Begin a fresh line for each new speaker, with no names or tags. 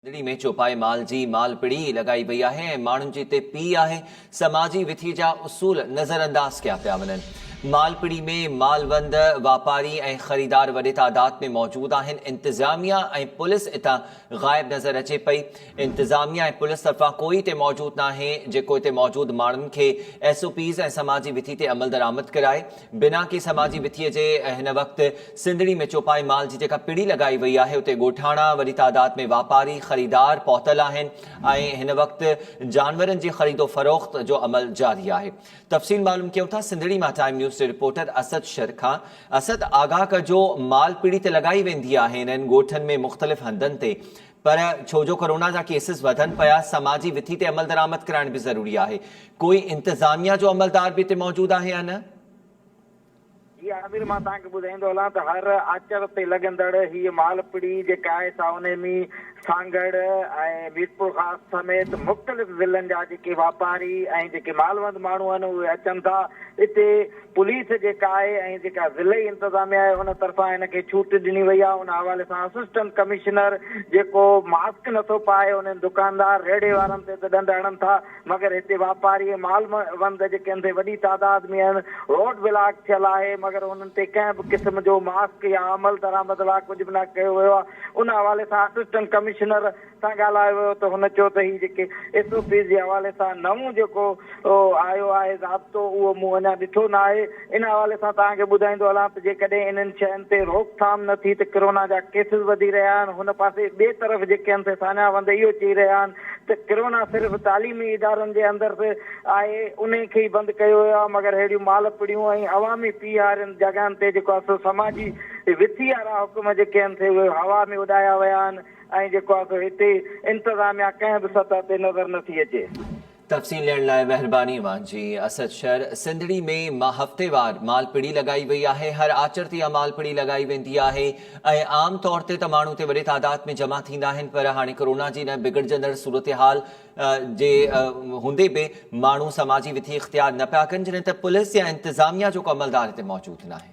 ڏڙي ۾ چوپائي مال جي مال پڙي لڳائي وئي آهي ۽ ماڻهن جي تي پي آهي، سماجي وٿي جا اصول نظر انداز ڪيا پيا وڃن. مال پڙي ۾ مالوند، واپاري ۽ خريدار وڏي تعداد ۾ موجود آهن، انتظاميه ۽ پوليس اتان غائب نظر اچي پئي، انتظاميه ۽ پوليس طرفان ڪوئي اتي موجود ناهي جيڪو اتي موجود ماڻهن کي ايس او پيز ۽ سماجي وٿي تي عملدرآمد ڪرائي، بنا ڪي سماجي وٿيء جي هن وقت سنڌڙي ۾ چوپائي مال جي جيڪا پڙي لڳائي وئي آهي اتي ڳوٺاڻا، وڏي تعداد ۾ واپاري، خريدار پهتل آهن ۽ هن وقت جانورن جي خريد و فروخت جو عمل جاري آهي. تفصيل معلوم ڪيون ٿا سنڌڙي مان ٽائيم نيوز جي رپورٽر اسد شر کان. اسد! آگاهه ڪجو مال پڙي ته لڳائي ويندي آهي انهن ڳوٺن ۾ مختلف هنڌن تي پر ڇو جو ڪورونا جا ڪيسز وڌن پيا، سماجي وٿي تي عملدرآمد ڪرائڻ به ضروري آهي. ڪوئي انتظاميا جو عملدار به اتي موجود آهي يا نه؟
جي عامر، مان توهان کي ٻڌائيندو هلان ته هر آچر تي لڳندڙ هيء مالپڙي جيڪا آهي سا انهي ۾ سانگهڙ ۽ ميرپورخاص سميت مختلف ضلعن جا جيڪي واپاري ۽ جيڪي مالوند ماڻهو آهن اهي اچن ٿا اتي پوليس جيڪا آهي ۽ جيڪا ضلعي انتظاميه آهي ان طرفان هن کي ڇوٽ ڏني وئي آهي ان حوالي سان اسسٽنٽ ڪمشنر جيڪو ماسڪ نٿو پائي انهن دڪاندار ريڙهي وارن تي ته ڏنڊ هڻن ٿا مگر هتي واپاري ۽ مال وند جيڪي ان تي وڏي تعداد ۾ آهن روڊ بلاڪ ٿيل آهي مگر انهن تي ڪنهن به قسم جو ماسڪ يا عملدرآمد لاء ڪجهه به نه ڪيو ويو آهي ان حوالي سان اسسٽنٽ ڪمشنر سان ڳالهايو ويو ته هن چيو ته هي جيڪي ايس او پيز جي حوالي سان نئون جيڪو آيو آهي ضابطو اهو مون اڃا ڏٺو نه آهي ان حوالي سان توهان کي ٻڌائيندو هلان ته جيڪڏهن انهن شين تي روڪ ٿام نه ٿي ته ڪرونا جا ڪيسز وڌي رهيا آهن هن پاسي ٻئي طرف جيڪي هنسي ساڃاهه وند اهو چئي رهيا آهن ته ڪرونا صرف تعليمي ادارن جي اندر آهي انهي کي ئي بند ڪيو ويو آهي مگر ههڙيون مال پڙيون ۽ عوامي پي هارين جڳهن تي جيڪو سو سماجي وٿي وارا حڪم جيڪي هنسي اهي هوا ۾ اڏايا ويا آهن ۽ جيڪو آهي سو هتي انتظاميا ڪنهن به سطح تي نظر نه ٿي اچي. تفصيل ڏيڻ
لاء مهرباني اوهان جي. اسد شر سنڌڙي ۾ مان هفتيوار مالپڙي لڳائي وئي آهي هر آچر تي اها مالپڙي لڳائي ويندي آهي ۽ عام طور تي ته ماڻهو اتي وڏي تعداد ۾ جمع ٿيندا آهن پر هاڻي ڪورونا جي ان بگڙجندڙ صورتحال جي هوندي به ماڻهو سماجي وٿي اختيار نه پيا ڪن جڏهن ته پوليس يا انتظاميا جو ڪو عملدار هتي موجود ناهي.